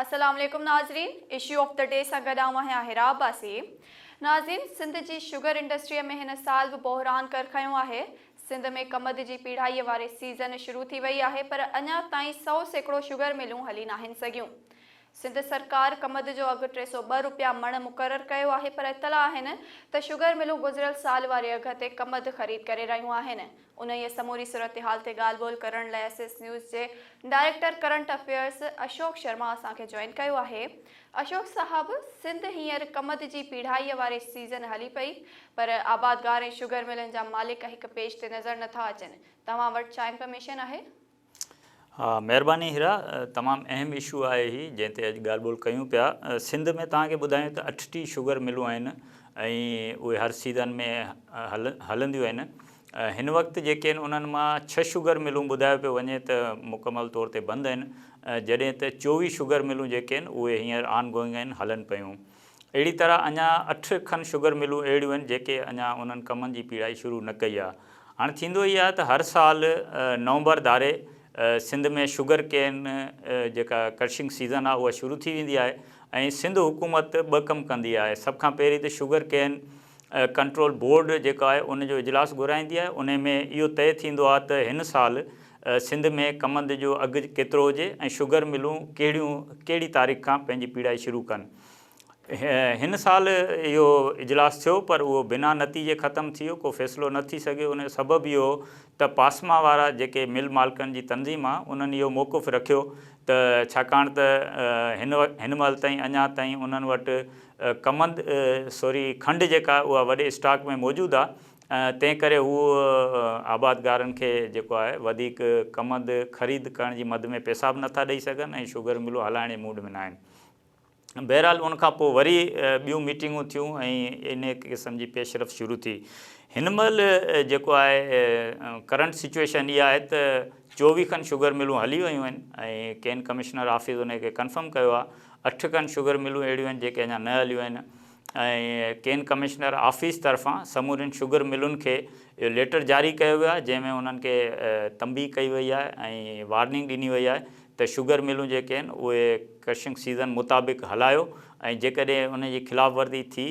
السلام عليڪم ناظرين اشو آف دي ڊي سان گڏ آئون آهيان حرا عباسي ناظرين سنڌ جي شگر انڊسٽري ۾ هن سال به بحران ڪر کنيو آهي سنڌ ۾ ڪمند جي پيڙهائي واري سيزن شروع ٿي وئي آهي پر اڃا تائين سؤ سيڪڙو شگر ملون هلي ناهن سگهيون سنڌ سرڪار ڪمد جو اگهه ٽي سؤ ٻه رپيا مڻ مقرر ڪيو آهي پر اطلاع آهن ته شگر ملون گذريل سال واري اگهه تي ڪمد خريد ڪري رهيون آهن انهيء سموري صورتحال تي ڳالهه ٻولهه ڪرڻ لاء ايس ايس نيوز جي director current affairs Ashok Sharma اسان کي جوائن ڪيو آهي. اشوڪ صاحب سنڌ هينئر ڪمند جي پيڙهائيء واري سيزن هلي پئي پر آبادگار ۽ شگر ملن جا مالڪ هڪ پيج تي نظر نٿا اچن توهان وٽ ڇا انفرميشن آهي؟ ها مهرباني هيرا تمام اهم اشو آهي هي جنهن تي اڄ ڳالهه ٻولهه ڪيون پيا سنڌ ۾ توهان کي ٻڌايون ته اٺ ٽي شگر ملون آهن ۽ اهي هر سيزن ۾ هلنديون آهن هن وقت جيڪي آهن انهن مان ڇهه شگر ملون ٻڌايو پيو وڃي ته مڪمل طور تي بند آهن جڏهن ته چوويهه شگر ملون جيڪي آهن اهي هينئر آن گوئنگ آهن هلن پيون اهڙي طرح اڃا اٺ کن شگر ملون اهڙيون آهن جيڪي اڃا انهن ڪمن جي پيڙائي شروع نه ڪئي آهي. هاڻ ٿيندو هي آهي ته هر سال نومبر ڌاري سنڌ ۾ شگر ڪين جيڪا ڪرشنگ سيزن آهي اها شروع ٿي ويندي آهي ۽ سنڌ حڪومت ٻه ڪم ڪندي آهي سڀ کان پهرين ته شگر ڪين ڪنٽرول بورڊ جيڪا آهي ان جو اجلاس گهرائيندي آهي انهي ۾ اهو طئي ٿيندو آهي ته هن سال سنڌ ۾ ڪمند جو اگهه ڪيترو هجي ۽ شگر ملون ڪهڙيون ڪهڙي تاريخ کان پنهنجي پيڙائي شروع ڪن هن سال اهو اجلاس ٿيو پر اهو بنا نتيجي ختم ٿي ويو ڪو فيصلو نه ٿي سگهيو ان جو سبب اهو هو ته پاسما وارا جيڪي مل مالڪن جي تنظيم آهي انهن اهو موقف رکيو ته ڇاڪاڻ ته هن هن مهل تائين اڃا تائين انهن وٽ ڪمند، سوري کنڊ جيڪا اها وڏي اسٽاڪ ۾ موجود آ تنهن ڪري هو آبادگارن کي جيڪو آهي وڌيڪ ڪمند خريد ڪرڻ جي مد ۾ پيسا به نٿا ڏئي سگهن ۽ شگر ملون هلائڻ جي موڊ ۾ ناهن. بهرحال ان کان پوء وري ٻيون ميٽنگون ٿيون ۽ انهيء قسم جي پيشرفت شروع ٿي. هن مهل جيڪو آهي ڪرنٽ سچوئيشن اها آهي ته چوويهه کن شگر ملون هلي ويون آهن ۽ ڪين ڪمشنر آفيس انهيء کي ڪنفرم ڪيو آ اٺ کن شگر ملون اهڙيون آهن جيڪي اڃا نه هليون آهن ۽ ڪين ڪمشنر آفيس طرفان سمورين شگر ملن کي اهو ليٽر جاري ڪيو ويو آهي جنهن ۾ انهن کي تنبيهه ڪئي وئي آهي ۽ وارننگ ڏني وئي آهي ته شگر ملون جيڪي آهن اهي ڪرشنگ سيزن مطابق هلايو ۽ جيڪڏهن ان جي خلاف ورزي ٿي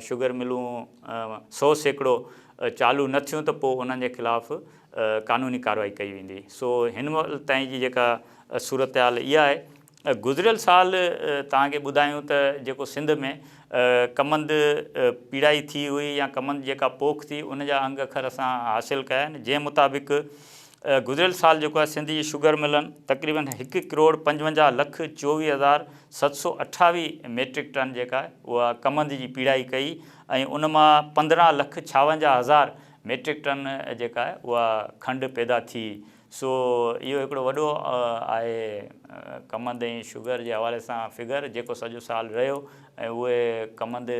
شگر ملون سو سيڪڙو چالو نه ٿيون ته پوء انهن جي خلاف قانوني ڪارروائي ڪئي ويندي سو هن وقت تائين جي جيڪا صورتحال اها آهي گذريل سال توهان کي ٻڌايون ته جيڪو سنڌ ۾ ڪمند پيڙائي ٿي هئي يا ڪمند جيڪا پوک ٿي ان جا انگ اکر اسان حاصل ڪيا آهن جنهن مطابق گذريل سال جيڪو آهي سنڌ جي شگر ملن تقريبن هڪ ڪروڙ پنجونجاهه لک چوويهه هزار ست سو اٺاويهه ميٽرڪ ٽن جيڪا آهي اها ڪمند جي پيڙائي ڪئي ۽ ان مان پندرهن لک ڇاونجاهه هزار ميٽرڪ ٽن جيڪا آهي اها کنڊ پيدا ٿي سو اهو هڪڙو وڏو آهي ڪمند ۽ شگر جي حوالي سان فگر جيڪو سڄو سال رهيو ۽ اهي ڪمند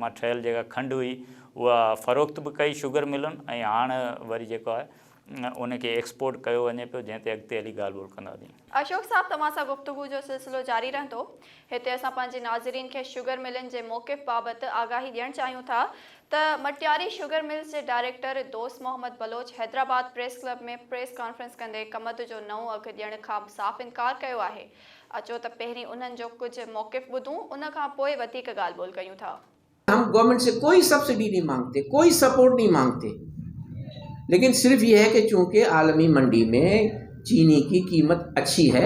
مان ٺهيل جيڪا کنڊ هئي اها فروخت به ڪئي شگر ملن ۽ هاڻ وري جيڪو آهي ان کي ايڪسپورٽ ڪيو وڃي پيو جنهن تي اڳتي هلي ڳالهه ٻولهه ڪنداسين. اشوڪ صاحب توهان سان گفتگو جو سلسلو جاري رهندو. هتي اسان پنهنجي ناظرين کي شگر ملن جي موقف بابت آگاهي ڏيڻ چاهيون ٿا ته مٽياري شگر ملز جي director Dost Muhammad Baloch Hyderabad press club ۾ press conference ڪندي ڪمند جو نئون اگهه ڏيڻ کان صاف انڪار ڪيو آهي اچو ته پهرين انهن جو ڪجهه موقف ٻڌون ان کان پوء وڌيڪ ڳالهه ٻولهه ڪيون ٿا. هم گورنمنٽ سي ڪوئي سبسڊي نهين مانگتي ڪوئي سپورٽ نهين مانگتي ليڪن صرف يهه هي ڪي چونڪه عالمي منڊي مين چيني ڪي قيمت اڇي هي.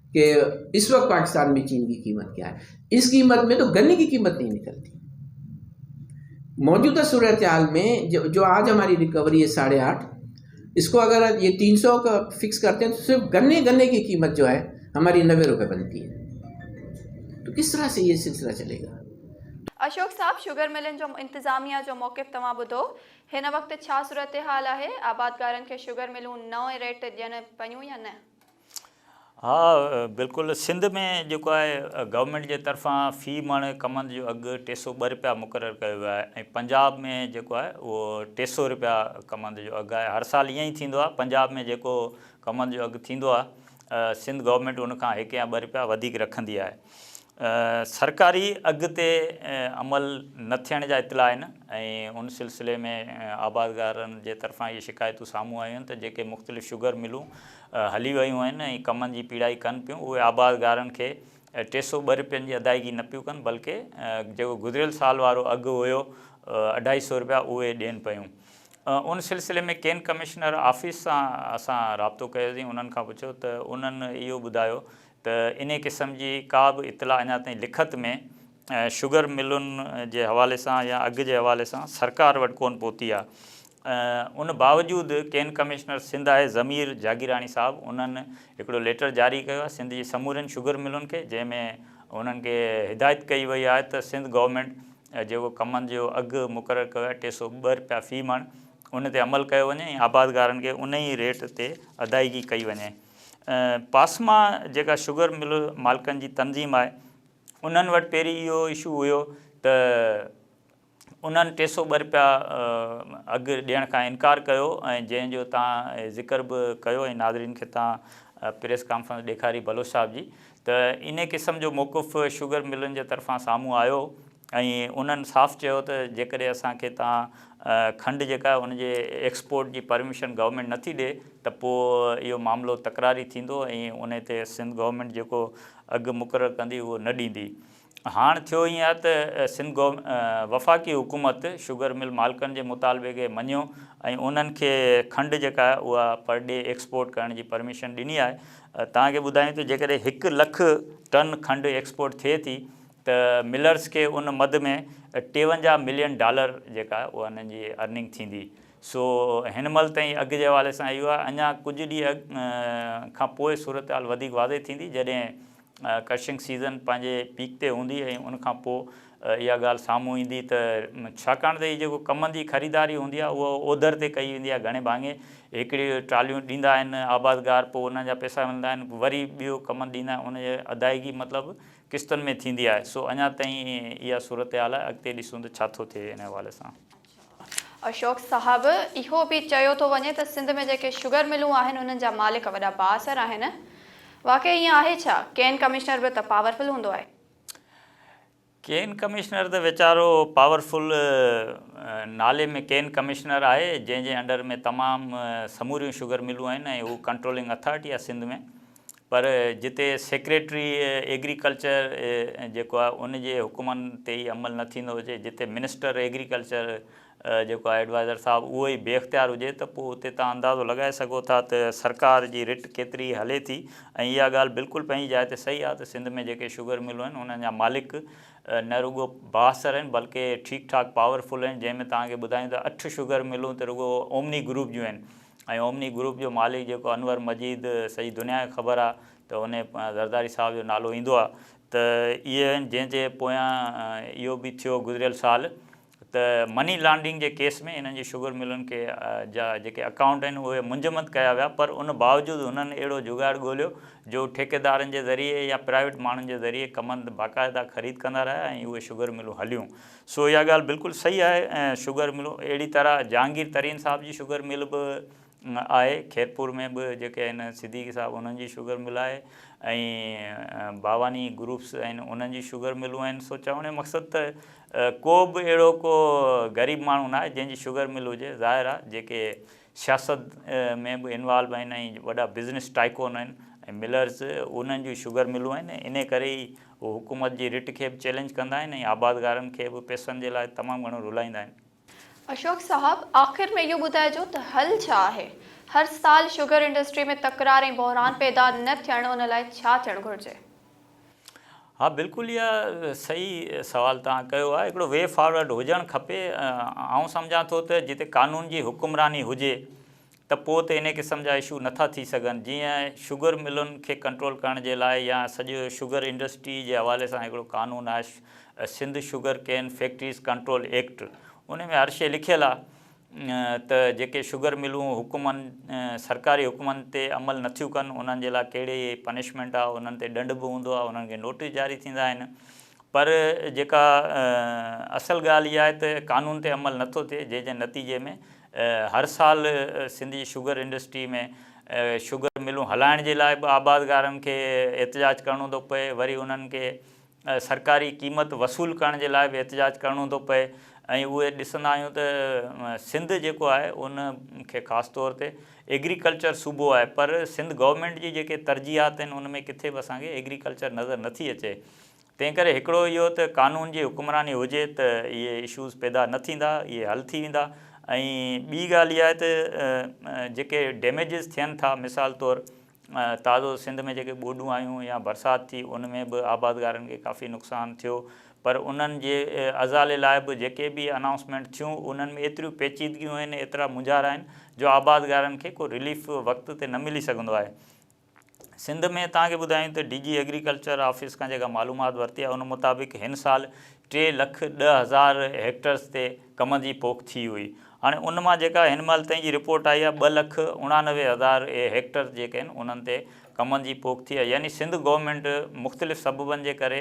ڪي اس وقت پاڪستان ۾ چين جي قيمت ڪيا هي اس قيمت ۾ تو گني جي قيمت نهي نڪلتي موجوده صورتحال ۾ جو آج هماري ريڪوري هي ساڙهي آٺ اس ڪو اگر جي تين سو ڪا فڪس ڪرتي تو صرف گني گني جي قيمت جو آهي هماري نوي روپي بنتي هي تو ڪس طرح سي هي سلسله چلي گا اشوڪ صاحب شگر ملن جو انتظاميه جو موقف توهان ٻڌو هن وقت ڇا صورتحال آهي آبادگارن کي شگر ملون نئون ريٽ ڏين پيون يا نه؟ ها بلڪل سنڌ ۾ جيڪو آهي گورنمينٽ جي طرفان في مڻ ڪمند جو اگهه ٽي سؤ ٻه رپيا مقرر ڪيو ويو آهي ۽ پنجاب ۾ جيڪو آهي اهو ٽي سؤ رپيا ڪمند جو اگهه آهي هر سال ائين ئي ٿيندو آهي پنجاب ۾ جيڪو ڪمند جو اگهه ٿيندو آهي سنڌ گورنمينٽ ان کان هڪ يا ٻه رپيا وڌيڪ رکندي آهي سرڪاري اگهه تي عمل نه ٿيڻ جا اطلاع آهن ۽ ان سلسلي ۾ آبادگارن جي طرفان اهي شڪايتون سامهون آيون آهن ته جيڪي مختلف شگر ملون هلي ويون آهن ۽ ڪمن جي پيڙائي ڪن پيون اهي آبادگارن کي ٽي سؤ ٻه رپين جي ادائيگي نه پيون ڪن بلڪه جيڪو گذريل سال وارو اگهه هيو اڍائي سؤ رپيا اهي ڏين پيون ان سلسلي ۾ ڪين ڪمشنر آفيس سان اسان رابطو ڪيوسين انهن کان پڇيو ته انهن اهو ٻڌايو ته انهي قسم جي ڪا به اطلاع اڃا تائين لکت ۾ شگر ملن جي حوالي سان يا اگهه جي حوالي سان سرڪار وٽ ڪونه پهتي آ ان باوجود ڪين ڪمشنر سنڌ آء ضمير جاگيراڻي صاحب انهن هڪڙو ليٽر جاري ڪيو آ سنڌ جي سمورين شگر ملن کي جنهن ۾ انهن کي هدايت ڪئي وئي آ ته سنڌ گورنمينٽ جيڪو ڪمند جو اگهه مقرر ڪيو آهي ٽي سؤ ٻه رپيا في مڻ ان تي عمل ڪيو وڃي ۽ آبادگارن کي ان ئي ريٽ تي ادائيگي ڪئي وڃي پاسما جيڪا شگر مل مالڪن جي تنظيم آهي انهن وٽ پهرين اهو اشو هيو ته انهن ٽي سؤ ٻه رپيا اگهه ڏيڻ کان انڪار ڪيو ۽ جنهن جو تان ذڪر به ڪيو ۽ ناظرين کي تان پريس ڪانفرنس ڏيکاري بلوچ صاحب جي ته انهي قسم جو موقف شگر ملن جي طرفان سامهون آيو ۽ انهن صاف چيو ته جيڪڏهن اسان کي تان کنڊ جيڪا آهي ان جي ايڪسپورٽ جي پرميشن گورنمينٽ نٿي ڏي ته پوء اهو معاملو تڪراري ٿيندو ۽ انهي تي سنڌ گورنمينٽ جيڪو اگهه مقرر ڪندي اهو نه ڏيندي. هاڻ ٿيو ائين آهي ته سنڌ وفاقي حڪومت شگر مل مالڪن جي مطالبي کي مڃيو ۽ انهن کي کنڊ جيڪا آهي اها پر ڊي ايڪسپورٽ ڪرڻ جي پرميشن ڏني آهي توهان کي ٻڌايون ته جيڪڏهن هڪ لک ٽن کنڊ ايڪسپورٽ ٿئي ٿي ته ملرز کي ان مد ۾ ٽيونجاهه ملين ڊالر جيڪا آهي اها انهن جي ارننگ ٿيندي. سو هن مهل تائين اگهه جي حوالي سان اهو آهي. اڃا ڪجهه ڏينهن کان پوء صورتحال وڌيڪ واضح ٿيندي جڏهن ڪرشنگ سيزن پنهنجي پيڪ تي هوندي ۽ ان کان پوء اها ڳالهه سامهون ايندي ته ڇاڪاڻ ته هي جيڪو ڪمند جي خريداري هوندي آهي اها اوڌر تي ڪئي ويندي آهي گهڻي ڀاڱي هڪڙيون ٽراليون ڏيندا آهن آبادگار پوء انهن جا پئسا ملندا آهن وري ٻيو ڪمند ڏيندا آهن ان جي ادائيگي مطلب قسطن ۾ ٿيندي آهي سو اڃا تائين اها صورتحال آهي اڳتي ڏسون ته ڇا ٿو ٿئي ان حوالي سان. اشوڪ صاحب اهو به چيو ٿو وڃي ته سنڌ ۾ جيڪي شگر ملون آهن انهن جا مالڪ وڏا بااثر آهن واقعي ائين آهي ڇا؟ ڪين ڪمشنر به ته پاور فل هوندو آهي. ڪين ڪمشنر ته ويچارو پاور فل نالي ۾ ڪين ڪمشنر آهي جنهن جي انڊر ۾ تمام سموريون شگر ملون آهن ۽ هو ڪنٽرولنگ اٿارٽي آهي سنڌ ۾. پر جتي سيڪريٽري ايگريڪلچر جيڪو آهي ان جي حڪمن تي ئي عمل نه ٿيندو هجي، جتي منسٽر ايگريڪلچر جيڪو آهي ايڊوائزر صاحب اهو ئي بي اختيار هجي ته پوء اتي توهان اندازو لڳائي سگهو ٿا ته سرڪار جي رٽ ڪيتري هلي ٿي ۽ اها ڳالهه بلڪل پنهنجي جاء تي صحيح آهي ته سنڌ ۾ جيڪي شگر ملون آهن انهن جا مالڪ نه رڳو بااثر آهن بلڪه ٺيڪ ٺاڪ پاور فل آهن جنهن ۾ توهان کي ٻڌايون ته اٺ شگر ملون ته رڳو اومني گروپ جون آهن ۽ اومني گروپ جو مالڪ جيڪو انور مجيد سڄي دنيا کي خبر آ ته انهي زرداري صاحب جو نالو ايندو آ ته اهي آهن جنهن جي پويان اهو به ٿيو گذريل سال ته مني لانڊرنگ جي ڪيس ۾ انهن جي شگر ملن کي جا جيڪي اڪائونٽ آهن اهي منجمد ڪيا ويا پر ان باوجود انهن اهڙو جگاڙ ڳوليو جو ٺيڪيدارن جي ذريعي يا پرائيويٽ ماڻهن جي ذريعي ڪمند باقاعده خريد ڪندا رهيا ۽ اهي شگر ملون هليون سو اها ڳالهه بلڪل صحيح آهي ۽ شگر ملون اهڙي طرح جهانگير ترين صاحب جي شگر مل به آهي خيرپور ۾ به جيڪي آهن صديقي صاحب انهن جي شگر مل آهي ۽ باواني گروپس آهن انهن جي شگر ملون آهن سو چوڻ جو مقصد ته ڪو به اهڙو ڪو غريب ماڻهو ناهي جنهن جي شگر مل هجي ظاهر آهي جيڪي سياست ۾ به انوالو آهن ۽ وڏا بزنس ٽائڪون آهن ۽ ملرز انهن جون شگر ملون آهن انهي ڪري ئي هو حڪومت جي رٽ کي به چئلينج ڪندا آهن ۽ آبادگارن کي به پئسن جي لاء تمام گهڻو رلائيندا آهن. اشوڪ صاحب آخر ۾ اهو ٻڌائجو ته حل ڇا آهي؟ هر سال شگر انڊسٽري ۾ تڪرار ۽ بحران پيدا نه ٿيڻ ان لاء ڇا ٿيڻ گهرجي؟ ها بلڪل اها صحيح سوال توهان ڪيو آهي هڪڙو وي فارورڊ هجڻ کپي آئون سمجهان ٿو ته جتي قانون جي حڪمراني هجي ته پوء ته انهي قسم جا اشو نٿا ٿي سگهن جيئن شگر ملن کي ڪنٽرول ڪرڻ جي لاء يا سڄي شگر انڊسٽري جي حوالي سان هڪڙو قانون آهي Sindh sugar cane factories control act انهي ۾ هر شيء لکيل آهي ته جيڪي شگر ملون حڪمن سرڪاري حڪمن تي عمل نٿيون ڪن انهن جي لاء ڪهڙي پنشمينٽ آهي انهن تي ڏنڊ به هوندو آهي انهن کي نوٽيس جاري ٿيندا آهن پر جيڪا اصل ڳالهه اها آهي ته قانون تي عمل نٿو ٿئي جنهن جي نتيجي ۾ هر سال سنڌ جي شگر انڊسٽري ۾ شگر ملون هلائڻ جي لاء به آبادگارن کي احتجاج ڪرڻو ٿو پئي وري انهن کي سرڪاري قيمت وصول ڪرڻ جي لاء به احتجاج ڪرڻو ٿو پئي ۽ اهي ڏسندا آهيون ته سنڌ جيڪو آهي ان کي خاص طور تي ايگريڪلچر صوبو آهي پر سنڌ گورنمينٽ جي جيڪي ترجيحات آهن ان ۾ ڪٿي به اسان کي ايگريڪلچر نظر نٿي اچي تنهن ڪري هڪڙو اهو ته قانون جي حڪمراني هجي ته اهي اشوز پيدا نه ٿيندا اهي حل ٿي ويندا ۽ ٻي ڳالهه اها آهي ته جيڪي ڊيميجز ٿين ٿا مثال طور تازو سنڌ ۾ جيڪي ٻوڏون آيون يا برسات ٿي ان ۾ به آبادگارن کي ڪافي نقصان ٿيو پر انهن جي ازالي لاء به جيڪي به انائونسمينٽ ٿيون انهن ۾ ايتريون پيچيدگيون آهن ايترا مونجهارا آهن جو آبادگارن کي ڪو رليف وقت تي نه ملي سگهندو آهي سنڌ ۾ توهان کي ٻڌايون ته ڊي جي ايگريڪلچر آفيس کان جيڪا معلومات ورتي آهي ان مطابق هن سال ٽي لک ڏهه هزار هيڪٽرز تي ڪم جي پوک ٿي هئي. هاڻي ان مان جيڪا هن مهل تائين جي رپورٽ آئي آهي ٻه لک اڻانوي هزار هيڪٽر جيڪي آهن انهن تي ڪم جي پوک ٿي آهي يعني سنڌ گورنمينٽ مختلف سببن جي ڪري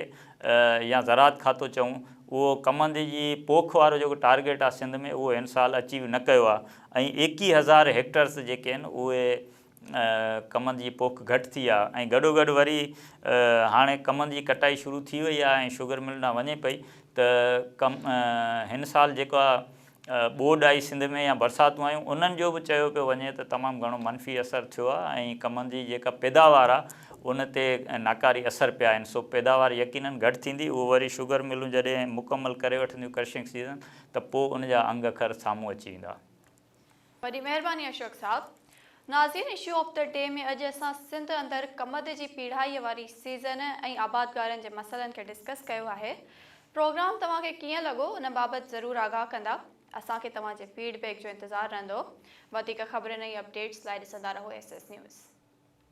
يا زراعت کاتو چئون اهو ڪم جي جي پوک وارو جيڪو ٽارگيٽ آهي سنڌ ۾ اهو هن سال اچيو نه ڪيو آهي ۽ ايڪيهه هزار هيڪٽرس جيڪي آهن اهي ڪمند جي پوک گهٽ ٿي آ ۽ گڏوگڏ وري هاڻي ڪمند جي ڪٽائي شروع ٿي وئي آ ۽ شگر مل ڏانهن وڃي پئي ته هن سال جيڪا ٻوڏ آئي سنڌ ۾ يا برساتون آيون انهن جو به چيو پيو وڃي ته تمام گهڻو منفي اثر ٿيو آ ۽ ڪمند جي جيڪا پيداوار آ ان تي ناڪاري اثر پيا آهن سو پيداوار يقينن گهٽ ٿيندي اهو وري شگر ملون جڏهن مڪمل ڪري وٺنديون ڪرشنگ سيزن ته پوء ان جا انگ اکر سامهون اچي ويندا. وڏي مهرباني اشوڪ صاحب. ناظرين اشو آف دي ڊي ۾ اڄ اسان سنڌ اندر ڪمند جي پيڙهائي واري سيزن ۽ آبادگارن جي مسئلن کي ڊسڪس ڪيو آهي. پروگرام توهان کي ڪيئن لڳو ان بابت ضرور آگاهه ڪندا. اسان کي توهان جي فيڊ بيڪ جو انتظار رهندو. وڌيڪ خبرن ۽ اپ ڊيٽس لاء ڏسندا رهو ايس ايس نيوز.